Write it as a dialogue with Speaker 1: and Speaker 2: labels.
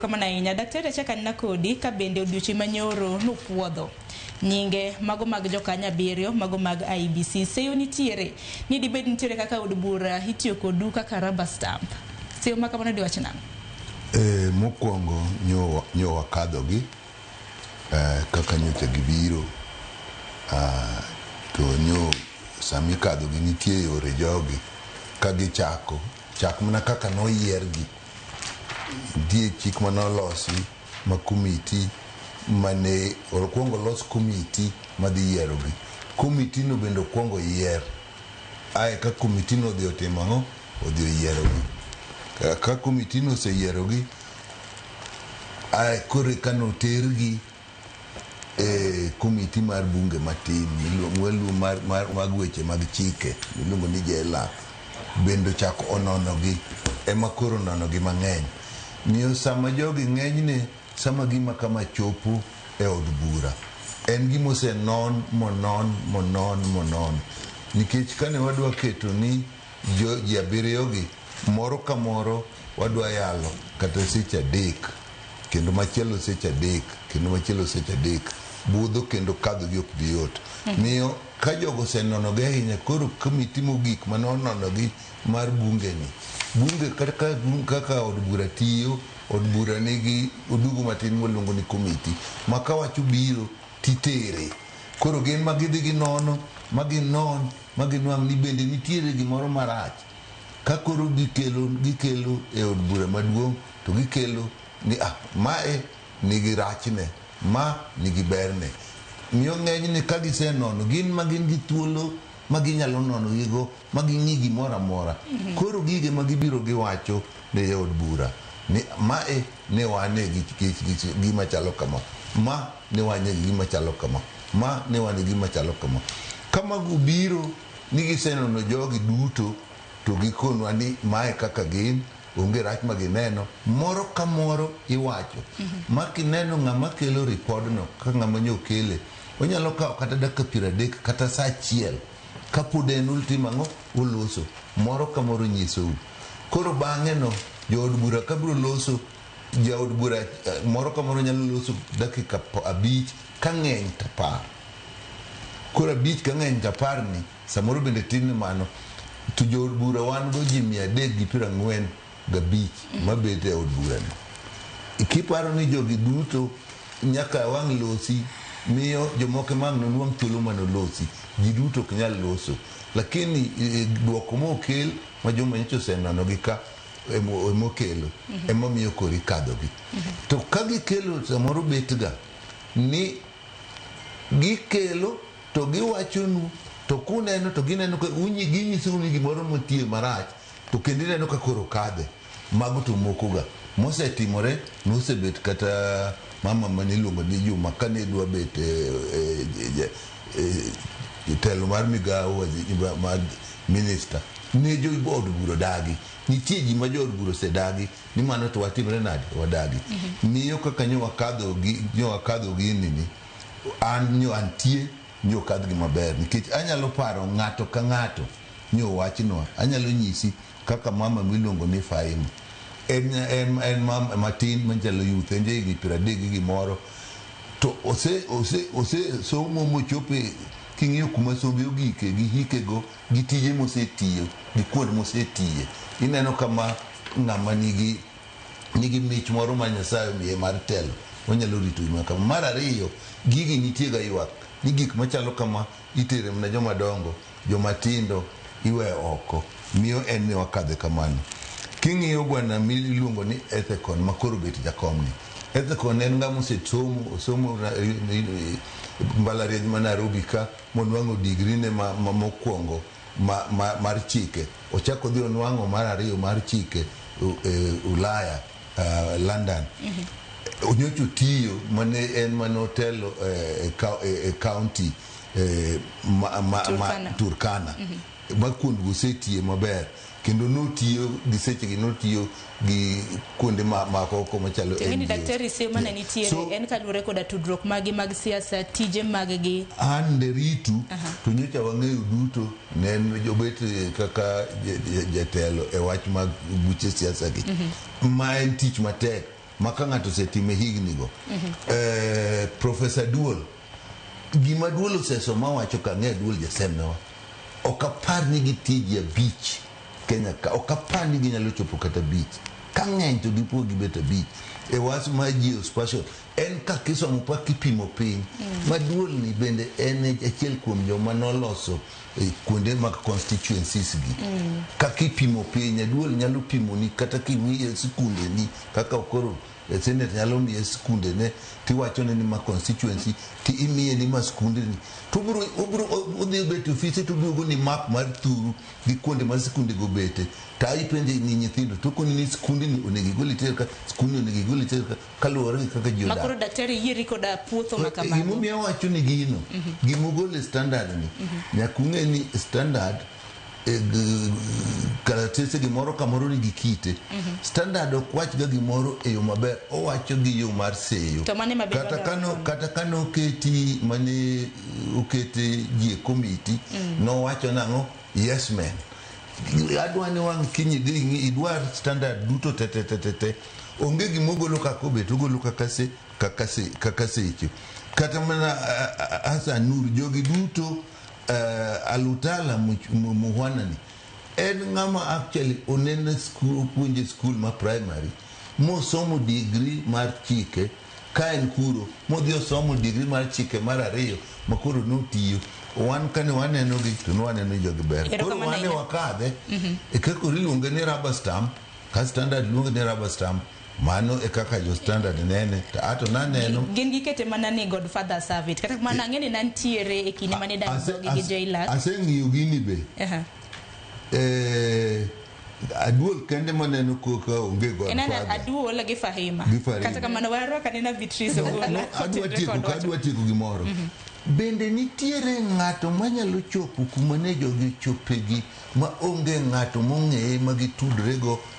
Speaker 1: Kamano ahinya. Daktari achak anena kodi ka bende odiochieng' manyoro nupuodho nyinge mago mag jokanya abiriyo mago mag IBC seyo nitiere ni dibed nitiere kaka od bura itiyo kodu kaka rubber stamp seyo ma kamano diwach nang'o? E,
Speaker 2: mokwongo nyo, nyo wakadhogi e, kaka nyocha gibiro a, to nyo sami kadhogi nitie yore jogi ka gichako chak mana kaka noyiergi Nitie chik mane olosi ma komiti mane okuongo los komiti madhi yierogi. Komiti no bende okuongo yier. Ae ka komiti no odhi otimo ang'o? Odhi oyierogi. Ka komiti no oseyierogi, ae koro eka notergi e komiti mar bunge matin mag weche mag chike miluongo ni JLAC bende ochako ononogi ema koro ononogi mang'eny miyo sama jogi ng'enyne sama gima kama chopo e od bura en gima osenon monon monon monon nikech kane wadwa keto ni ji abiriyogi moro ka moro wadwa yalo kata seche adek. kendo machielo seche adek kendo machielo seche adek budho kendo kadhogi ok bi yot miyo ka jogo osenonogi ahinya koro komiti mogik mane ononogi mar bungeni bunge kata ka- bung- kaka od bura tiyo od bura nigi odugu matin mwaluongo ni komiti ma ka wach obiro titere koro gin ma gidhi ginono ma ginon ma ginwang' ni bende nitiere gimoro marach ka koro gikelo gikelo e od bura maduong' To gikelo ni a mae nigi rachne, ma nigi berne. Miyo ng'enyne ka gisenono gin ma gin gi thuolo ma ginyalo nonogigo ma ging'i gimoro amora. Koro gige ma gibiro giwacho ne jaod bura ni mae ne wane gi gima chalo kama, ma ne wane gi gima chalo kama, ma ne wane gi gima chalo kama. Ka mago obiro ni gisenono jogi duto to gikonwa ni mae kaka gin, onge rach ma gineno. Moro ka moro iwacho ma kineno ng'ama kelo ripodno ka ng'ama nyo kele, onyalo kawo kata dakika piero adek kata sa achiel kapod en ultimo ang'o? Oloso. Moro ka moro onyisou. Koro bang'eno jood bura ka biro loso, jaod bura eh, moro ka moro nyalo loso dakika p- abich ka ng'eny to apar. Koro abich ka ng'eny to apar ni Samoro bende tin ne mano to jo od bura wan go ji mia adek gi piero ang'wen gabich mabet e od burani. Kiparo ni jogi duto nyaka wang' losi, miyo jomoko ema ang' noluong thuolo ma nolosi. Ji duto ok nyal loso. Lakini duoko mokel ma joma nyocha osenenogi ka ema okelo ema miyo koro ikadhogi. To ka gikelo samoro betga ni gikelo to giwachonu to kuneno to gineno ka unyi- ginyisou ni gimoro motiyo marach to kendo ineno ka koro kadhe mago to mokoga mosetimore nosebet kata mama mane iluongo ni juma kane dwa bet eh, eh, eh, eh, jatelo mar migawo wazi- mar minista ne jood bura dagi nitie ji ma jood bura osedagi ni mano to watimre nade wadagi miyo kaka nyo wakadho gi- nyo wakadho ginini An nyo antie nyo kadh gi maber nikech anyalo paro ng'ato ka ng'ato nyo wachnwa. Anyalo nyisi kaka mama miluongo ni Faima. En en en mama matin machalo youth en jahigni piero adek gi gimoro. To ose ose ose somo mochope king'iyo kuma sombe ogike gi hike go gi tije mosetiyo gi kuond mosetiye ineno kama ng'ama nigi nigi mich moro ma Nyasaye omiye mar telo, onyalo rito gik ma kama. Mar ariyo, gigi nitiega ywak ni gik machalo kama itere mana joma dongo, joma tindo iweyo oko. Miyo en ni wakadhe kamano. King'iyo bwana miluongo ni Ethekon ma koro obet jakomni. Ethekon en ng'ama osesomo, osomo na- mbalariany ma Nairobi ka, monwang'o degree ne ma- ma- mokwongo ma, ma, mar chike ochak odhi onwang'o mar ariyo mar chike u- e, ulaya uh, london onyocho tiyo mane en mane otelo eh, e ka- e- e county eh, ma- ma- ma- Turkana. turkana ma kuondgo osetiye maber kendo notiyo gi sechegi notiyo gi kuonde ma- makoko machalo Tiende ni NGOs. daktari seyo mane
Speaker 1: Yeah. nitiere So, en kaluwore koda tudruok maggi mag siasa, tije maggi. an nderitu
Speaker 2: to nyocha wang'eyo duto ne en jobet eh, kaka ja- ja- jatelo e wach mag buche siasa gi ma en tich matek ma ka ng'ato osetime higni go Eh, profesa duol Gima duol oseso ma wacho ka ng'e duol jasembewa. Ok apar ni gitie ji abich Kenya ka. Ok apar ni ginyalo chopo kata abich. Ka ng'eny to gipo gibet abich. E was ma geospatial. En ka kisomo pa kipimo piny. Mm. Ma duol ni bende en achiel kuom joma noloso eh, kuonde mag constituencies gi. Mm. Ka kipimo piny, duol nyalo pimo ni kata kimiye sikunde ni kaka okoro E senate nyalo miye skunde ne tiwachone ni ma constituency ti imiye ni ma skunde ni to obiro obiro odhi obet e ofise to oduogo ni map mar thuru gi kuonde ma skunde go bete ta ipenje ni nyithindo to koni ni skunde ni onego igol iter ka skunde onego igol iter ka kaluwore gi kaka ji odak makoro daktari yieri koda
Speaker 1: puotho ma kamago gimomiyo awacho ni
Speaker 2: gino gimogol e standard ni nyaka ung'e ni standard e, karatese gimoro kamoro nigi kite mm -hmm. standard ok wachga gimoro e yo maber owacho gi yo mar seyo kata kano kata kano oketi mane okete ji e komiti mm -hmm. nowacho nang'o yes man adwa ni wang' kiny idhi idwar standard duto tetetetete onge gima ogolo kaka obet ogolo kaka se kaka se kaka seche kata mana Hassan Nur jogi duto uh, alutala muhwanani en ng'ama actually onene opuonje skul ma primary mosomo digri mar chike ka en kuro modhi osomo digri mar chike mar ariyo ma koro notiyo wan kane waneno gi to nwaneno jogi ber koro wane wakadhe e kaka oriluonge ni rubber stamp ka standard luonge ni rubber stamp Mano e kaka jo standard nene to ato naneno. Gin gikete mana ni
Speaker 1: God father serve it. Kata kamano ang'e ni nantiere e kinde mane idaro Ase- dhogi gi ase- Joilak. Aseng'iyo gini be.
Speaker 2: Aha. Eh, aduol kende maneno koka onge God Enana father. aduola gi Fahima.
Speaker 1: Gi Fahima. Kata kamano warwaka nena Beatrice Ogola. adwa Otenre tieko kod ka wach. adwa
Speaker 2: tieko gimoro bende nitiere ng'ato manyalo chopo kuma ne jogi ochopegi ma onge ng'ato mong'eye ma gitudrego